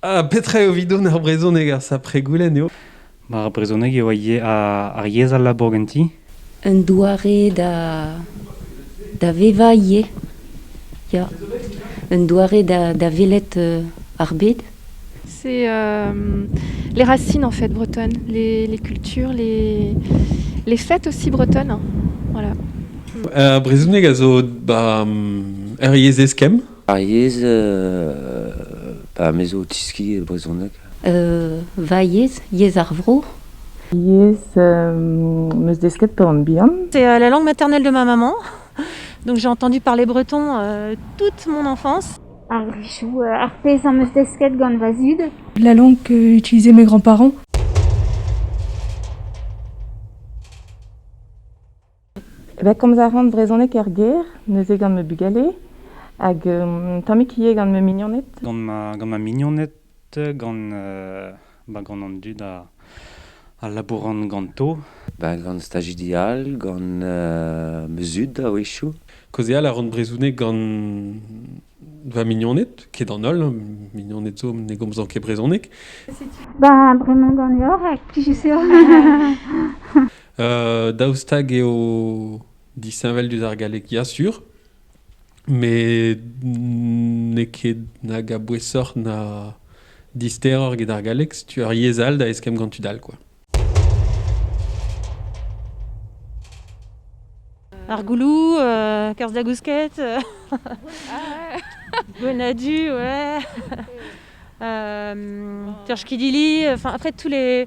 Ah, petra eo evidon ar brezhoneg, ar sapregoulenn eo? Ar brezhoneg eo ar yezh al labour ganti. Un doare da, da vevañ ivez. Ya. Un doare da, da welet euh, ar bed. C'est euh, les racines en fait bretonnes, les, les cultures, les, les fêtes aussi bretonnes. Voilà. Un brezhoneg a zo ba, er yezh eskemm. Ar yezh pa me zo o tiski e brezhoneg. Va yezh, yezh ar vro. Yezh 'm eus desket peurrant-bihan. C'est la langue maternelle de ma maman. Donc j'ai entendu parler breton toute mon enfance. Ar pezh am eus desket gant va zud. La langue qu'utilisaient mes grands-parents. Ben komz a ran brezhoneg er gêr, neuze gant ma bugale, hag tammig ivez gant ma mignoned. Gant ma, gant ma mignoned, gant ba gant an dud a a labouran ganto. Ba gant stajidi all, gant ma zud a-wechoù. Kaozeal a ran brezhoneg gant va mignoned, ket an holl, mignoned zo ne gomzan ket brezhoneg. Ba bremañ ganeoc'h, ha plijus eo. daoust hag eo disheñvel diouzh ar galleg Ya sur, met n'eo ket nag a-bouesoc'h na disteroc'h get ar galleg, setu ur yezh all da eskemm gant tud all, quoi. Ar goulou, euh, kerzh da gousket, euh, gwenadu, ouais. Euh, Terch Kidili, enfin après tous les,